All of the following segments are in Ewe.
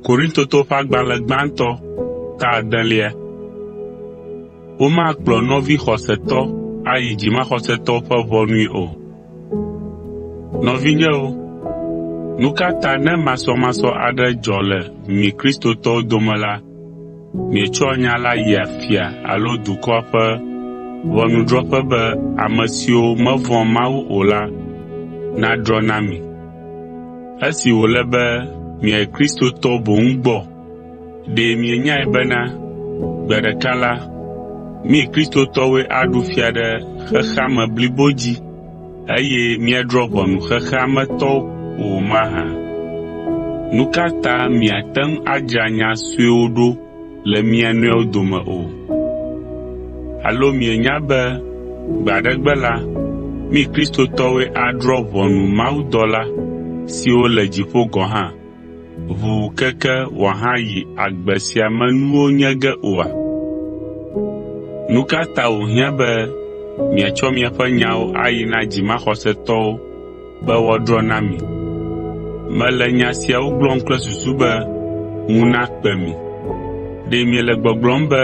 Korintotɔwo ƒe agbalẽ gbãtɔ ta adelia. Womakplɔ nɔvi xɔsetɔ ayi dzimaxɔsetɔwo ƒe ʋɔnui o. Nɔvinyewo, nu ka ta ne masɔmasɔ aɖe dzɔ le mi Kristotɔwo dome la, mietsɔa nya la yia fia alo dukɔa ƒe ʋɔnudrɔ̃ƒe be ame siwo mevɔ̃a Mawu o la nadrɔ̃ na mi? Esi wòle be miayi Kristotɔ boŋ gbɔ, ɖe mienyae bena gbe ɖeka la, mí Kristotɔwoe aɖu fia ɖe xexea me blibo dzi eye míadrɔ̃ ʋɔnu xexea me tɔwo o mahã? Nu ka ta miate ŋu adzra nya suewo ɖo le mia nɔewo dome o? Alo mienya be gbe aɖe gbe la, mí Kristotɔwoe adrɔ̃ ʋɔnu mawudɔla siwo le dziƒo gɔ̃ hã, ʋuu keke wòahayi agbe sia me nuwo nye ge oa? Nu ka ta wòhiã be miatsɔ miaƒe nyawo ayi na dzimaxɔsetɔwo be woadrɔ̃ na mi. Mele nya siawo gblɔm kple susu be ŋu nakpe mi. Ɖe miele gbɔgblɔm be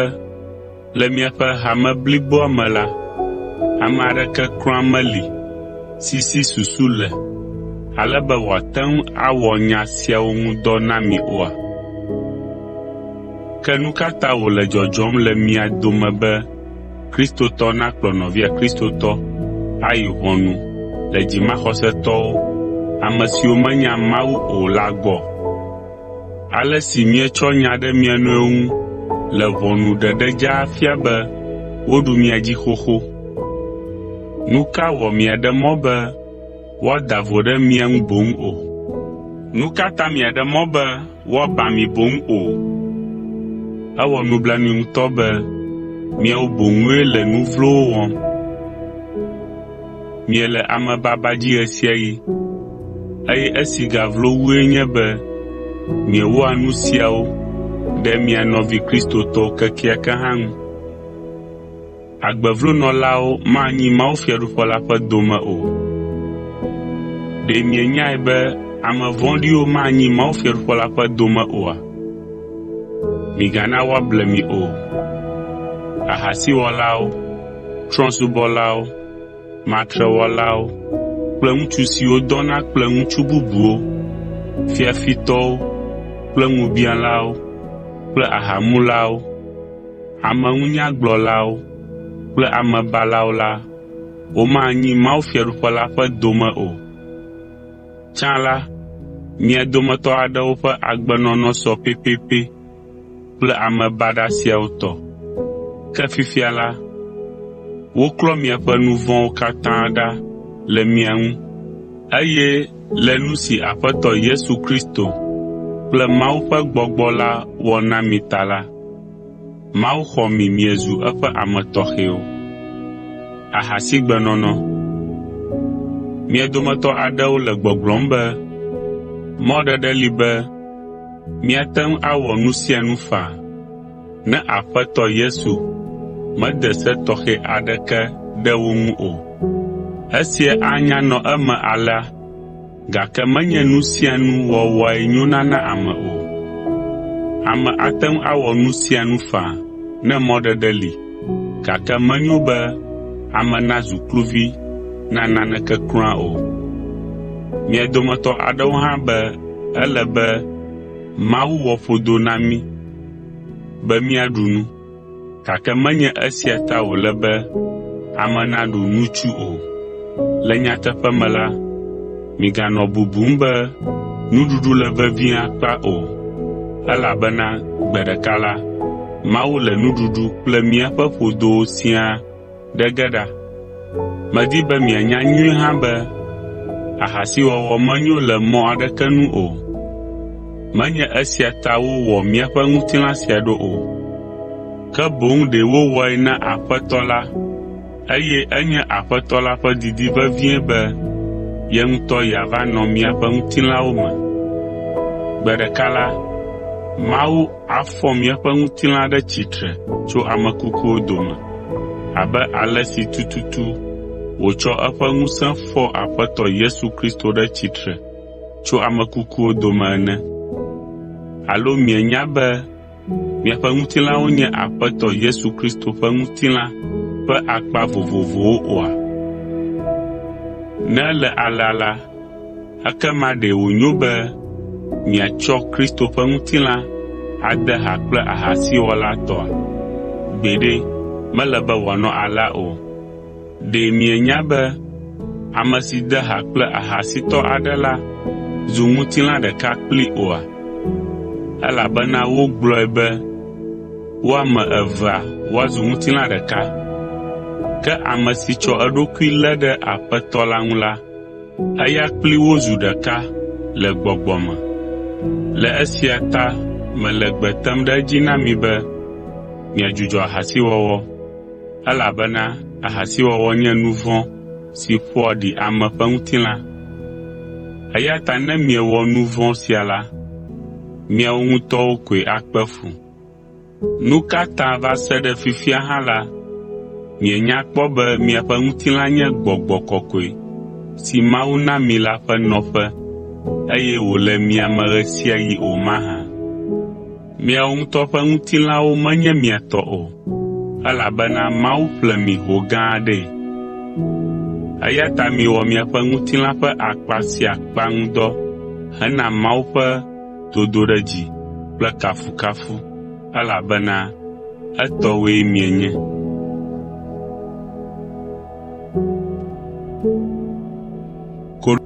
le miaƒe hame bliboa me la, ame aɖeke kura meli si si susu le ale be wòate ŋu awɔ nya siawo ŋu dɔ na mi oa? Ke nu ka ta wòle dzɔdzɔm le mia dome be Kristotɔ nakplɔ nɔvia Kristotɔ ayi ʋɔnu le dzimaxɔsetɔwo, ame siwo menya Mawu o la gbɔ. Ale si mietsɔ nya ɖe mia nɔewo ŋu le ʋɔnu ɖeɖe dzaa fia be woɖu mia dzi xoxo. Nu ka wɔ miaɖe mɔ be woada vo ɖe mia ŋu boŋ o? woaba mi boŋ o. Ewɔ nublanui ŋutɔ be miawo boŋue le nu vlowo wɔm. Miele amebaba dzi ɣesiaɣi, eye esi gavlo wue nye be miewɔa nu siawo ɖe mia nɔvi Kristotɔwo kekeake hã ŋu. Agbevlonɔlawo manyi mawufiaɖuƒe la ƒe dome o. Ɖe mienyae be ame vɔ̃ɖiwo manyi mawufiaɖuƒe la ƒe dome oa? Migana woable mi o. Ahasiwɔlawo, trɔ̃subɔlawo, matrewɔlawo kple ŋutsu siwo dɔna kple ŋutsu bubuwo, fiafitɔwo kple ŋubiãlawo kple ahamulawo, Ameŋunyagblɔlawo kple amebalawo la, womanyi mawufiaɖuƒe la ƒe dome o. Tsã la, mia dometɔ aɖewo ƒe agbenɔnɔ sɔ pɛpɛpɛ kple ame baɖa siawo tɔ. Ke fifia la, woklɔ miaƒe nu vɔ̃wo katã ɖa le mia ŋu, eye Le nu si Aƒetɔ Yesu Kristo kple Mawu ƒe gbɔgbɔ la wɔ na mi ta la, Mawu xɔ mi miezu eƒe ame tɔxɛwo. Ahasigbenɔnɔ. Mia dometɔ aɖewo le gbɔgblɔm be, “Mɔɖeɖe li be míate ŋu awɔ nu sia nu faa.” Ne Aƒetɔ Yesu mede se tɔxɛ aɖeke ɖe wo ŋu o. Esia anya nɔ eme alea, gake menye nu sia nu wɔwɔe nyona na ame o. Ame ate ŋu awɔ nu sia nu faa ne mɔɖeɖe li, gake menyo be ame nazu kluvi na naneke kura o. Mia dometɔ aɖewo hã be ele be Mawu wɔ ƒodo na mí. be míaɖu nu, gake menye esia ta wòle be ame naɖu nutsu o. Le nyateƒe me la, miganɔ bubum be nuɖuɖu le vevie akpa o, elabena gbe ɖeka la, Mawu le nuɖuɖu kple míaƒe ƒodowo siaa Ɖe ge ɖa, medi be mianya nyuie hã be ahasiwɔwɔ menyo le mɔ aɖeke nu o. Menye esia ta wowɔ míaƒe ŋutilã sia ɖo o, ke boŋ ɖe wowɔe na Aƒetɔ la eye enye Aƒetɔ la ƒe didi vevie be ye ŋutɔ yeava nɔ míaƒe ŋutilãwo me. Gbe ɖeka la, Mawu, afɔ míaƒe ŋutilã ɖe tsitre tso ame kukuwo dome abe ale si tututu wòtsɔ eƒe ŋusẽ fɔ Aƒetɔ Yesu Kristo ɖe tsitre tso ame kukuwo dome ene. Alo mienya be miaƒe ŋutilãwo nye Aƒetɔ Yesu Kristo ƒe ŋutilã ƒe akpa vovovowo oa? Ne ele alea la, Ekema ɖe wònyo be miatsɔ Kristo ƒe ŋutilã ade ha kple ahasiwɔla tɔa? Gbeɖe, mele be wòanɔ alea o! Ɖe mienya be ame si de ha kple ahasitɔ aɖe la zu ŋutilã ɖeka kplii oa? Elabena wogblɔe be wo ame evea woazu ŋutilã ɖeka. Ke ame si tsɔ eɖokui lé ɖe Aƒetɔ la ŋu la Eya kpli wo zu ɖeka le gbɔgbɔ me. Le esia ta mele gbe tem ɖe edzi na mi be miadzudzɔ ahasiwɔwɔ, elabena ahasiwɔwɔ nye nu vɔ̃ si ƒoa ɖi ame ƒe ŋutilã. Eya ta ne miewɔ nu vɔ̃ sia la, miawo ŋutɔwo koe akpe fu. Nu ka ta va se ɖe fifia hã la, mienya kpɔ be miaƒe ŋutilã nye gbɔgbɔ kɔkɔe si Mawu na mi la ƒe nɔƒe eye wòle mia me ɣe sia ɣi o mahã? Miawo ŋutɔ ƒe ŋutilãwo menye mia tɔ o, elabena Mawu ƒle mi ho gã aɖee. Eya ta miwɔ miaƒe ŋutilã ƒe akpa sia akpa ŋudɔ hena Mawu ƒe dodoɖedzi kple kafukafu, elabena etɔwoe mienye.